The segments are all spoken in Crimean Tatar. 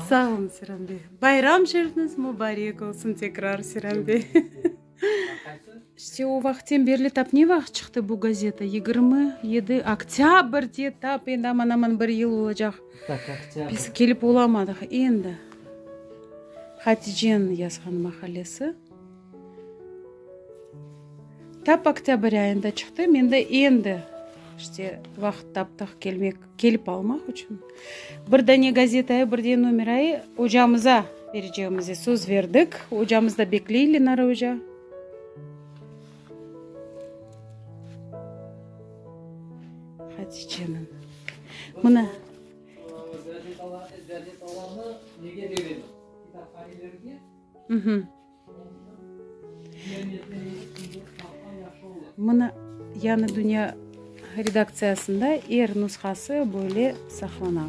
Sağolun Selam bey. Bayram şerifniz mubarek olsun tekrar Selam bey. İşte o vaqıttan berli tap ne vaqıt çıqtı bu gazeta? Yigirmi yedi oktâbrde tap endi aman-aman bir yıl olacaq. Biz kelip olamadıq endi. Haticeniñ yazğan maqalesi tap oktâbr ayında çıqtı, mende endi işte vaqıt taptıq kelmek, kelip almaq içün. Bir dane gazetayı, bir dene numerayı ocamıza berecegimize söz berdik. Ocamız da bekley, Lenara oca. Haticenin. Mına. Mına Yañı Dünya redaktsiyasında er nusqası böyle saqlana.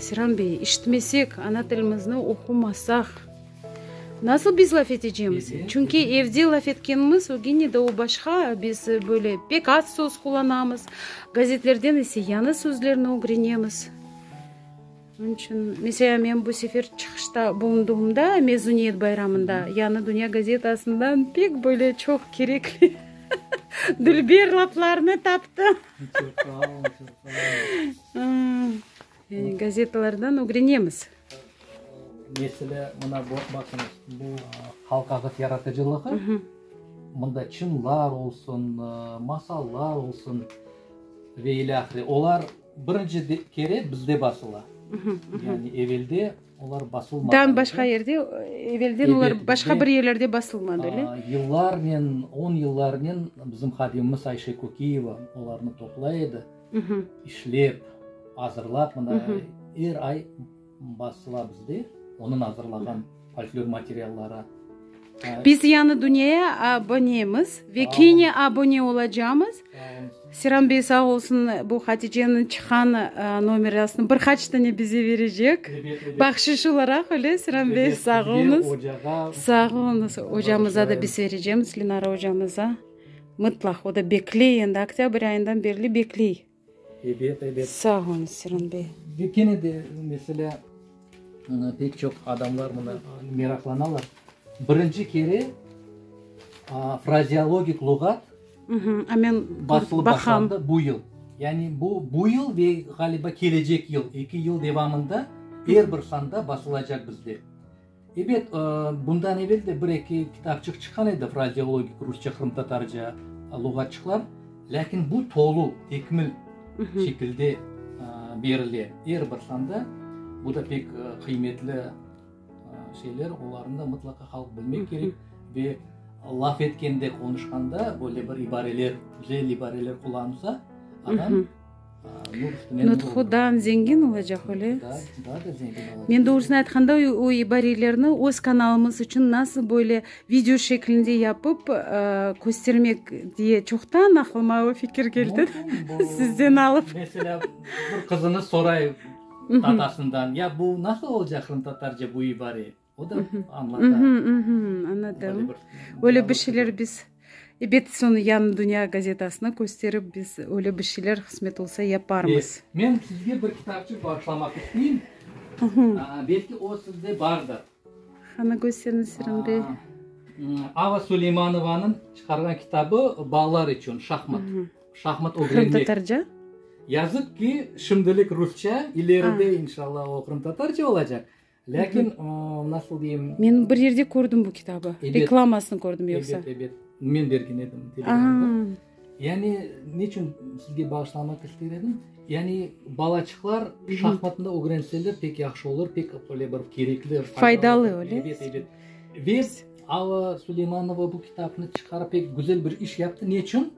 Seyran bey, işitmesek, ana tilimizni oqumasaq, nasıl biz laf etecemiz? Çünki evde laf etkenimiz, o gene de o başqa, biz böyle pek az söz qullanamız, gazetlerden ise yañı sözlerni ögrenemiz. Onıñ içün, mesela, men bu sefer çıqışta bulunduğımda, mezuniyet bayramında, Yañı dünya gazetasından pek böyle çoq kerekli dülber laflarnı taptım. Yani gazetalardan ögrenemiz. Meselâ, mına baqıñız, bu halq ağıt yaratıcılığı, mında çınlar olsun, masallar olsun ve ile ahire. Olar birinci kere bizde basıla. Yani evelde olar basılmadı. Dan başqa yerde, evelden olar başqa bir yerlerde basılmadı, ele? Yıllarnen, on yıllarnen bizim hadimimiz Ayşe Kökiyeva olarnı toplay edi. İşlep, azırlap, mına, er ay basıla bizde onıñ azırlağan folklor materialları. Biz yañı dünyaya abonemiz ve kene abone olacamız. Seran bey sağ olsun, bu Haticeniñ çıqqan nomerasını bir qaç tane bize berecek, bahşiş olaraq, öyle, Seran bey? Sağ oluñız. Sağ oluñız. Ocamıza da biz berecemiz, Linara ocamıza. Mıtlaq, o da bekley endi, oktâbr ayından berli bekley. Ebet, ebet. Sağ olun, Siron bey. Ve kene de, meselâ, ıı, pek çoq adamlar mına meraqlanalar. Birinci kere, aa, frazeologik luğat Mhmm, a men basılıp baqam. başlandı bu yıl. Yani bu, bu yıl ve ğaliba kelecek yıl, eki yıl devamında er bir sanda basılacaq bizde. Ebet, bundan evel de bir-eki kitapçıq çıqqan edi, frazeologik rusça-qırımtatarca luğatçıqlar, lâkin bu tolu, tekmil şekilde berile, er bir sanda. Bu da pek qıymetli şeyler, olarnı da mıtlaqa halq bilmek kerek. Ve laf etkende, qonuşqanda böyle bir ibareler, güzel ibareler qullanılsa, adam. Nutqudan zengin olacaq, öyle? Men doğrusını aytqanda, o ibarelerni öz kanalımız içün nasıl böyle video şeklinde yapıp köstermek diye çoqtan aqlıma o fikir keldi, sizden alıp. Mesela, bir qızınız sorayım, atasından, ya bu nasıl olacaq qırımtatarca bu ibare? O da añlata. Añladım. Öyle bir şeyler biz, ebet, soñu Yañı dünya gazetasına kösterip, biz öyle bir şeyler qısmet olsa yaparmız. Men sizge bir kitapçıq bağışlamaq isteyim. Belki o sizde bardır. Qana kösteriñiz, Sirin bey. Ava Suleymanovanıñ çıqarğan kitabı Balalar içün şahmat. Şahmat ögrenmek. Qırımtatarca? Yazıq ki, şimdilik rusça, ileride inşallah o qırımtatarca olacaq. Lâkin, nasıl deyim. Men bir yerde kördim bu kitabı. Reklamasını kördim yoqsa. Ebet, ebet. Men bergen edim. Yani, neçün sizge bağışlamaq ister edim? Yani, balaçıqlar şahmatnı ögrenseler pek yahşı olur, pek böyle bir kerekli. Faydalı, öyle. Ebet, ebet. Ve Ava Suleymanova bu kitabını çıqarıp pek güzel bir iş yaptı. Neçün?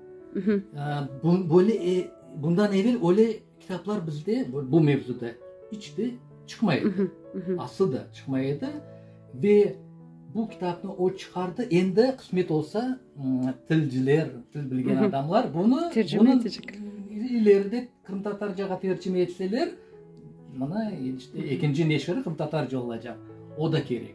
Böyle, bundan evel öyle. Kitaplar bizde bu mevzuda iç de çıqmay edi, aslı da çıqmay edi. Ve bu kitapnı o çıqardı, endi qısmet olsa, tilciler, til bilgen adamlar bunı ileride qırımtatarcağa tercime etseler, mına işte ekinci neşiri qırımtatarca olacaq, o da kerek.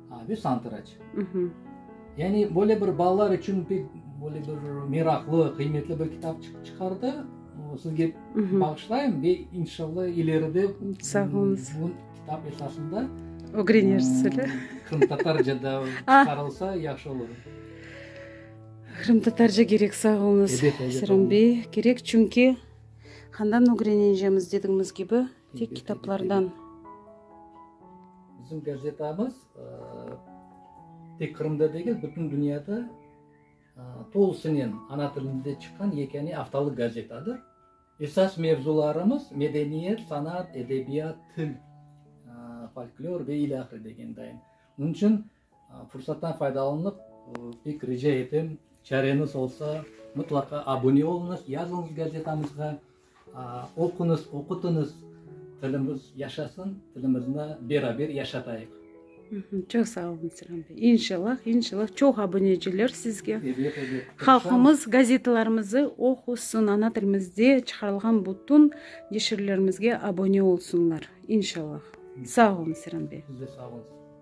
Büs antraç. Yani böyle bir balalar içün pek böyle bir meraqlı, qıymetli bir kitap çıqardı. Sizge bağışlayım ve inşallah ileride bu kitap esasında ögrenersizler. Qırımtatarcada çıqarılsa yahşı olur. Qırımtatarca gerek, sağ olunız, Serum bey. Gerek çünki qandan ögreneceğimiz dediğimiz kibi. Tek kitaplardan. Bizim gazetamız tek Qırımda degil, bütün dünyada tolusınen ana tilinde çıqqan yekâne aftalıq gazetadır. Esas mevzularımız medeniyet, sanat, edebiyat, til, folklor ve ilâhre degende. Bunun içün Fursattan faydalanıp, pek rica etem, çareñiz olsa, mıtlaqa abune oluñız, yazıñız gazetamızğa, oquñız, oqutıñız, tilimiz yaşasın, tilimizni beraber yaşatayıq. Çoq sağ olun, Selam bey. İnşallah, inşallah, çoq abuneciler sizge. Ebet, ebet. Halqımız gazetalarımızı oqusın, ana tilimizde çıqarılğan bütün neşirlerimizge abune olsunlar. İnşallah. Sağ olun, Selam bey. Siz de sağ oluñız.